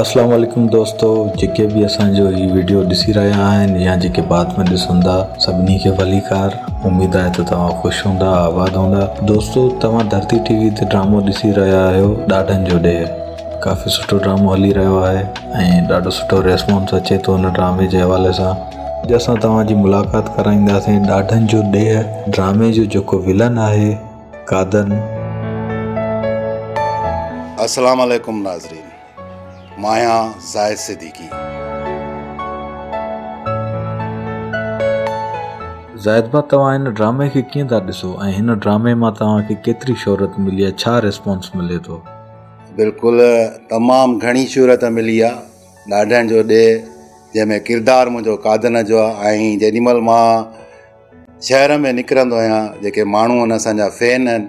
السلام عليڪم دوستو جيڪي به اسانجو هي وڊيو ڏسي رهيا آهن يا جيڪي بعد ۾ ڏسندا سڀني کي ڀليڪار اميد آهي ته توهان خوش هوندا آباد هوندا دوستو توهان ڌرتي ٽي وي تي ڊرامو ڏسي رهيا آهيو ڏاڍن جو ڏيهه ڪافي سٺو ڊرامو هلي رهيو آهي ۽ ڏاڍو سٺو ريسپونس اچي ٿو ان ڊرامي جي حوالي سان اڄ اسان توهان جي ملاقات ڪرائينداسين ڏاڍن جو ڏيهه ڊرامي جو جيڪو ولن آهي قادر. السلام عليڪم ناظرين ماهيان زاهد صديقي. زاهد ڀاء توهان هن ڊرامي کي ڪيئن ٿا ڏسو ۽ هن ڊرامي مان توهان کي ڪيتري شهرت ملي آهي ڇا ريسپانس ملي ٿو. بلڪل تمام گهڻي شهرت ملي آ ڏاڍن جو ڏيهه جنهن ۾ ڪردار منهنجو قادن جو آ ۽ جيڏي مهل مان شهر ۾ نڪرندو آهيان جيڪي ماڻهو آهن اسان جا فين آهن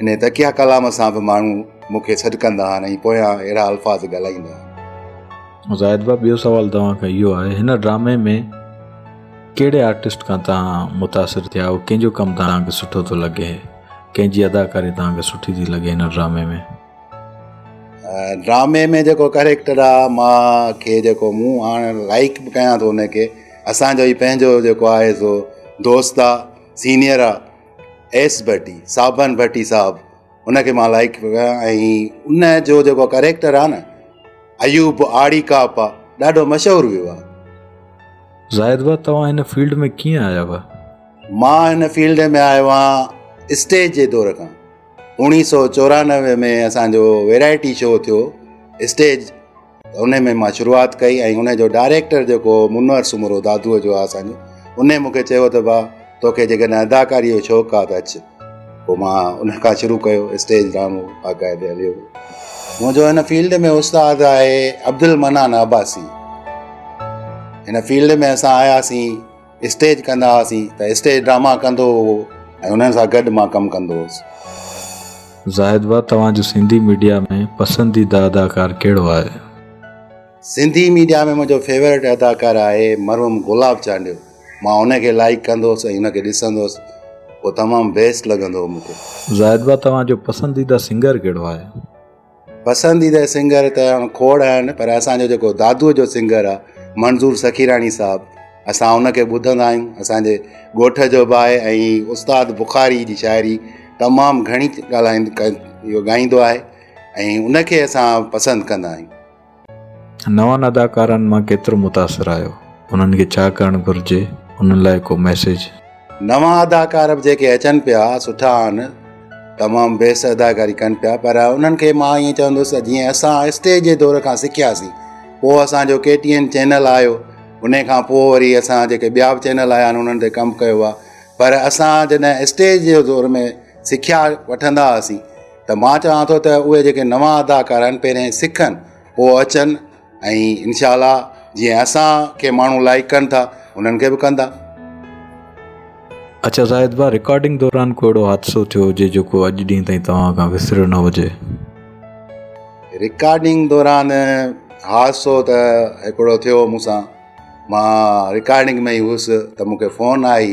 انهيء تکيا ڪلام سان به ماڻهو مون کي سڏ ڪندا آهن ۽ پويان اهڙا الفاظ ڳالهائيندا آهن. زاهد ڀاء ٻيو سوال توهان کان اهو آهي هن ڊرامي ۾ ڪهڙي آرٽسٽ کان توهان متاثر ٿيا آهيو ڪنهن جو ڪم توهان کي سٺو ٿو لڳي ڪنهن جي اداڪاري توهان کي سٺي ٿي لڳي هن ڊرامي ۾ ڊرامي ۾ جيڪو ڪريڪٽر آهي مان کي جيڪو مون هاڻ لائيڪ به ڪيان ٿو ان کي اسان جو هي پنهنجو جيڪو آهي سو دوست آهي سينيئر آهي ايس ڀٽي صابن ڀٽي صاحب ان کي مان لائڪ ڪيو آهي ۽ ان جو جيڪو ڪريڪٽر آهي نه ايوب آڙي ڪاپ آهي ڏاڍو مشهور ويو آهي زاهد بھا توهان هن فيلڊ ۾ ڪيئن آيا هئا؟ مان هن فيلڊ ۾ آيو آهيان اسٽيج جي دور کان اوڻيهه سؤ چورانوي ۾ اسانجو ويرائٽي شو ٿيو اسٽيج ان ۾ مان شروعات ڪئي ۽ ان جو ڊائريڪٽر جيڪو هو منور سومرو دادوء جو آهي اسان جو ان ئي مونکي چيو ته ڀاء توکي جيڪڏهن اداڪاريء جو شوق آهي ته اچ پوء مان ان کان شروع ڪيو اسٽيج ڊرامو باقاعدي هليو منهنجو هن فيلڊ ۾ استاد آهي عبدالمنان عباسي هن فيلڊ ۾ اسان آياسين اسٽيج ڪندا هئاسين ته اسٽيج ڊراما ڪندو هو ۽ انهن سان گڏ مان ڪم ڪندو هوس. زاهد ڀاء توهان جو سنڌي ميڊيا ۾ پسنديده اداڪار ڪهڙو آهي؟ سنڌي ميڊيا ۾ منهنجو فيوريٽ اداڪار آهي مرحوم گلاب چانڊيو مان ان کي لائيڪ ڪندو هوس ۽ ان کي ڏسندو هوس هو تمام بيسٽ لڳندو هو مون کي. زاهد ڀاء توهان جو پسنديده سنگر ڪهڙو آهي؟ پسنديده سنگر ته هاڻ کوڙ آهن پر اسان جو جيڪو دادوء جو سنگر آهي منظور سخيراڻي صاحب اسان ان کي ٻڌندا آهيون اسان جي ڳوٺ جو به آهي ۽ استاد بخاري جي شاعري تمام گهڻي ڳالهائين ڪن اهو ڳائيندو آهي ۽ ان کي اسان پسند ڪندا آهيون نون اداڪارن مان ڪيترو متاثر آهيو؟ انهن کي ڇا ڪرڻ گهرجي؟ انهن لاء ڪو ميسيج؟ نوان اداڪار به جيڪي اچن پيا سٺا آهن تمام بيسٽ اداڪاري ڪن پيا پر انهن کي مان ائين چوندس ته جيئن اسان اسٽيج جي دور کان سکياسين پوء اسان جو ڪي ٽي اين چينل آيو انهي کان پوء وري اسان جيڪي ٻيا به چينل آيا آهن انهن تي ڪم ڪيو آهي پر اسان جڏهن اسٽيج جي دور ۾ سکيا وٺندا هئاسين ته مان چاهيان ٿو ته اهي جيڪي نوان اداڪار آهن پهرين سکن پوء اچن ۽ انشاء الله جي اسان کي ماڻهو لائڪ ڪن ٿا انهن کي به ڪندا اچا زاهد با رڪارڊنگ دوران ڪو اهڙو حادثو ٿيو هجي جيڪو اڄ ڏينهن تائين توهان کان وسريو نه هجي رڪارڊنگ دوران حادثو ته هڪڙو ٿيو مون سان مان رڪارڊنگ ۾ هي هوس ته مون کي فون آئي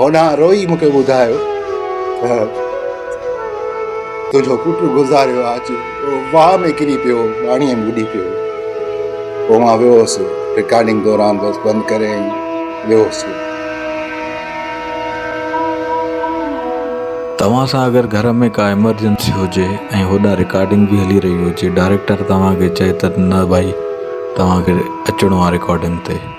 هوڏانهن روئي مون کي ٻڌايو ته تنهنجو پٽ گذاريو آهي اچ واهه ۾ ڪري پيو پاڻيء ۾ ٻڏي پيو پوء مان ويو هوسي رڪارڊنگ دوران بس بند ڪري ويو هوسي توهان سان اگر گهر ۾ ڪا ايمرجنسي هجي ۽ هوڏانهن رڪارڊنگ به هلي رهي هجي ڊائريڪٽر توهان کي چئي ته نه ڀائي توهان کي اچڻو آهي رڪارڊنگ تي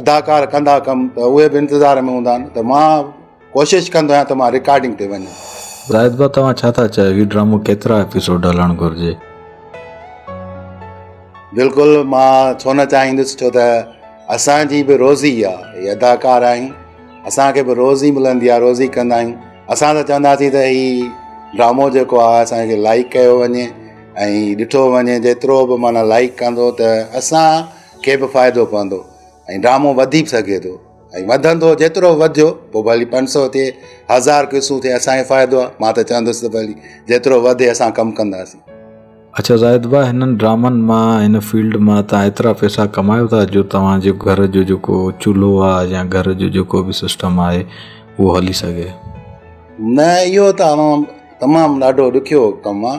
اداڪار ڪندا ڪم ته اهي به انتظار ۾ هوندا آهن ته مان ڪوشش ڪندو آهيان ته مان رڪارڊنگ تي وڃان. زاهد ڀاء توهان ڇا ٿا چاهيو هي ڊرامو ڪيترا ايپيسوڊ هلڻ گهرجي. بلڪل مان ڇو نه چاهيندس ڇو ته اسان جي به روزي آ هي اداڪار آهيون اسان کي به روزي ملندي آ روزي ڪندا آهيون اسان ته چونداسين ته هي ڊرامو جيڪو آ اسان کي لائڪ ڪيو وڃي ۽ ڏٺو وڃي جيترو به معنيٰ لائڪ ڪندو ته اسان کي به فائدو پوندو ۽ ڊرامو وڌي به سگهي ٿو ۽ وڌندو جيترو وڌيو پوء ڀلي پنج سو ٿئي هزار قصو ٿئي اسانکي فائدو آهي مان ته چوندس ته ڀلي جيترو وڌي اسان ڪم ڪنداسين اڇا زاهد ڀاء هنن ڊرامن مان هن فيلڊ مان تان ايترا پئسا ڪمايو ٿا جو توهان جو گهر جو جيڪو چولهو آهي يا گهر جو جيڪو به سسٽم آهي اهو هلي سگهي نه اهو ته تمام ڏاڍو ڏکيو ڪم آهي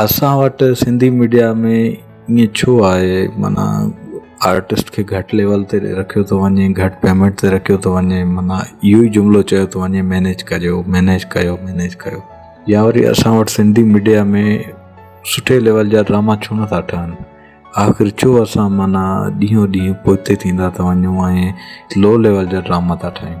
اسان وٽ سنڌي ميڊيا ۾ ائين ڇو آهي معنيٰ آرٽسٽ کي گهٽ ليول تي رکيو ٿو وڃي گهٽ پيمنٽ تي رکيو ٿو وڃي معنيٰ اهو ئي جملو چيو ٿو وڃي مينيج ڪجو مينيج ڪيو مينيج ڪيو يا وري اسان وٽ سنڌي ميڊيا ۾ سٺي ليول جا ڊراما ڇو نٿا ٺهن آخر ڇو اسان معنيٰ ڏينهون ڏينهن پوئتي ٿيندا ٿا وڃون ۽ لو ليول جا ڊراما ٿا ٺاهيون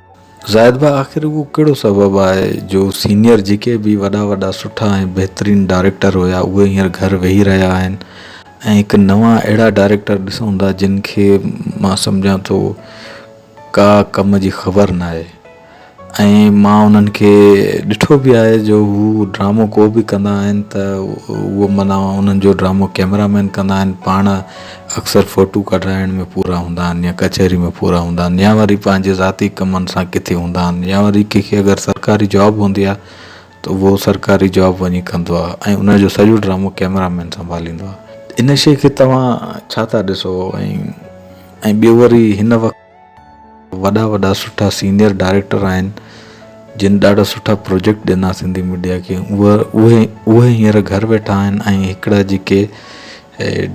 زاهد ڀاء آخر اهو ڪهڙو سبب آهي جو سينيئر جيڪي به وڏا وڏا سٺا ۽ بهترين ڊائريڪٽر هيا اهي هينئر گهر ويهي رهيا آهن ۽ هڪ نوان اهڙا ڊائريڪٽر ڏسون ٿا جن کي مان سمجهان ٿو ڪا ڪم جي خبر نه آهي ۽ مان انهن کي ڏٺو به آهي جو هو ڊرامو ڪو به ڪندا آهن ته اهو معنيٰ انهن جو ڊرامو ڪئميرا مين ڪندا آهن پاڻ اڪثر فوٽو ڪڍرائڻ ۾ پورا هوندا آهن يا ڪچهري ۾ پورا هوندا آهن يا وري پنهنجي ذاتي ڪمن سان ڪٿي هوندا آهن يا وري ڪنهن کي اگر سرڪاري جاب هوندي آهي ته اهو سرڪاري جاب وڃي ڪندو آهي ۽ ان جو سڄو ڊرامو ڪيمرا مين سنڀاليندو آهي ان شيء کي توهان ڇا ٿا ڏسو ۽ ۽ ٻيو وري هن وقت وڏا وڏا سٺا سينيئر ڊائريڪٽر آهن جن ڏاڍا سٺا پروجيڪٽ ڏنا سنڌي ميڊيا کي اهي اهي هينئر گهر ويٺا آهن ۽ هڪڙا جيڪي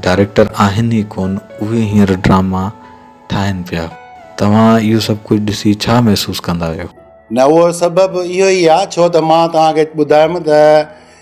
ڊائريڪٽر آهن ئي ڪون اهي هينئر ڊراما ٺاهن پيا توهان اهو سڀ ڪجهه ڏسي ڇا محسوس ڪندا آهيو. نه اهو سبب اهو ئي آهي ڇو ته مان توهان کي ٻڌايم ته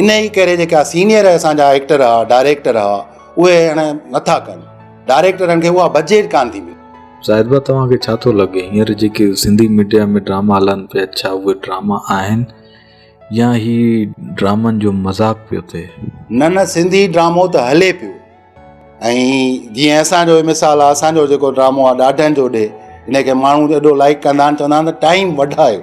ان ئي ڪري جيڪا سينئر اسان جا ايڪٽر ها ڊائريڪٽر ها اهي هاڻي نٿا ڪن ڊائريڪٽرن کي اها بجيٽ ڪانه ٿي ملي. زاهد ڀاء توهان کي ڇا ٿو لڳي هينئر جيڪي سنڌي ميڊيا ۾ ڊراما هلن پيا ڇا اهي ڊراما آهن يا هي ڊرامن جو مذاق پيو ٿئي. نه نه سنڌي ڊرامو ته هلي پيو ۽ جيئن اسان جو مثال آهي اسان جو جيڪو ڊرامو آهي ڏاڍن جو ڏي ان کي ماڻهو ايڏو لائڪ ڪندا آهن چوندا آهن ته ٽائيم وڍايو.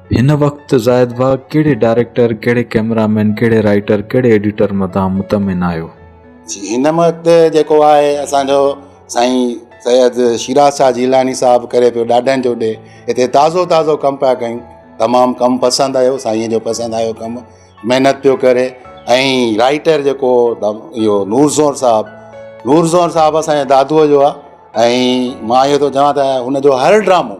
هن وقت زاهد ڀاء ڪهڙي ڊائريڪٽر، ڪهڙي ڪئميرا مين، ڪهڙي رائيٽر، ڪهڙي ايڊيٽر مٿان مطمئن آهيو؟ جي هن وقت جيڪو آهي اسان جو سائين سيد شيراز شاهه جيلاني صاحب ڪري پيو ڏاڏن جو ڏي هتي تازو تازو ڪم پيا ڪيون تمام ڪم پسند آيو سائين جو پسند آيو ڪم محنت پيو ڪري ۽ رائيٽر جيڪو اهو نور زور صاحب نور زور صاحب اسان جي دادوء جو آهي ۽ مان اهو ٿو چوان ته هن جو هر ڊرامو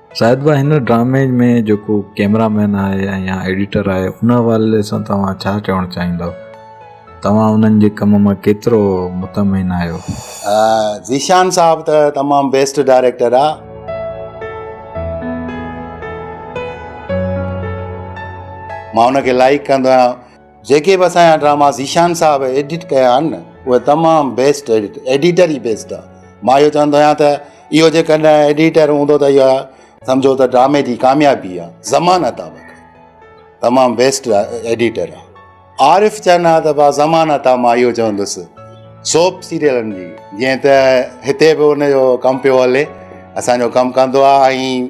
زاهد ڀاء هن ڊرامي ۾ جيڪو ڪيمرا مين آهي يا ايڊيٽر آهي ان حوالي سان توهان ڇا چوڻ چاهيندؤ توهان انهن جي ڪم مان ڪيترو مطمئن آهيو. ذيشان صاحب ته تمام بيسٽ ڊائريڪٽر آ. مان ان کي لائيڪ ڪندو آهيان. جيڪي به اسان جا ڊراما ذيشان صاحب ايڊٽ ڪيا آهن اهي تمام بيسٽ ايڊٽ ايڊيٽر ئي بيسٽ آهي مان اهو چوندو آهيان ته اهو جيڪڏهن ايڊيٽر هوندو ته اها سمجهو ته ڊرامي جي ڪاميابي آهي ضمانت آهي تمام بيسٽ ايڊيٽر آهي عارف چنا ته با ضمانت آهي مان اهو چوندس سوپ سيريلن جي جيئن ته هتي به ان جو ڪم پيو هلي اسان جو ڪم ڪندو آهي ۽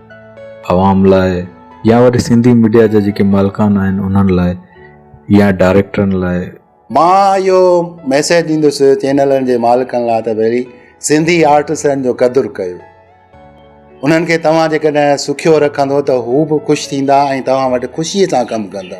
عوام لاء يا وري سنڌي ميڊيا جا جيڪي مالڪان آهن انهن لاء يا ڊائريڪٽرن لاء. مان اهو ميسيج ڏيندس چينلن جي مالڪن لاء ته ڀيلي سنڌي آرٽسن جو قدر ڪيو. انهن کي توهان جيڪڏهن سکيو رکندو ته هو به خوش ٿيندا ۽ توهان وٽ خوشي سان ڪم ڪندا.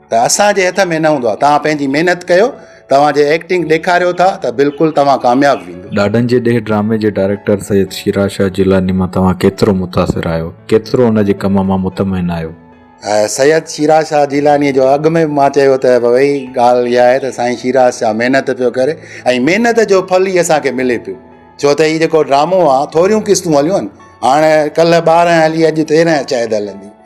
ته اسان جي هٿ ۾ نه هوندو آهي توهان پنهنجي محنت ڪيو توهان جي ايڪٽنگ ڏيکاريو ٿا ته بلڪل توهان ڪامياب ويندو. ڏاڏن جي ڏيهه ڊرامي جي ڊائريڪٽر سيد شيراز شاهه جيلاني مان توهان ڪيترو متاثر آهيو ڪيترو ان جي ڪم مان مطمئن آهيو؟ سيد شيراز شاهه جيلاني جو اڳ ۾ به مان چيو ته ڀوئي ڳالهه اها آهي ته سائين شيراز شاهه محنت پيو ڪري ۽ محنت جو ڦل هي اسان کي ملي پيو ڇو ته هي جيڪو ڊرامو آهي ٿوريون قسطون هليون آهن هاڻي ڪلهه ٻارهن هلي اڄ تيرهن شايد هلندي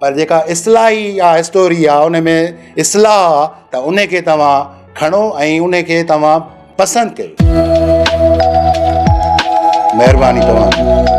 پر جيڪا اصلاحي يا اسٽوري آ ان ۾ اصلاح آ ته ان کي توهان کڻو ۽ ان کي توهان پسند ڪيو مهرباني توهان جي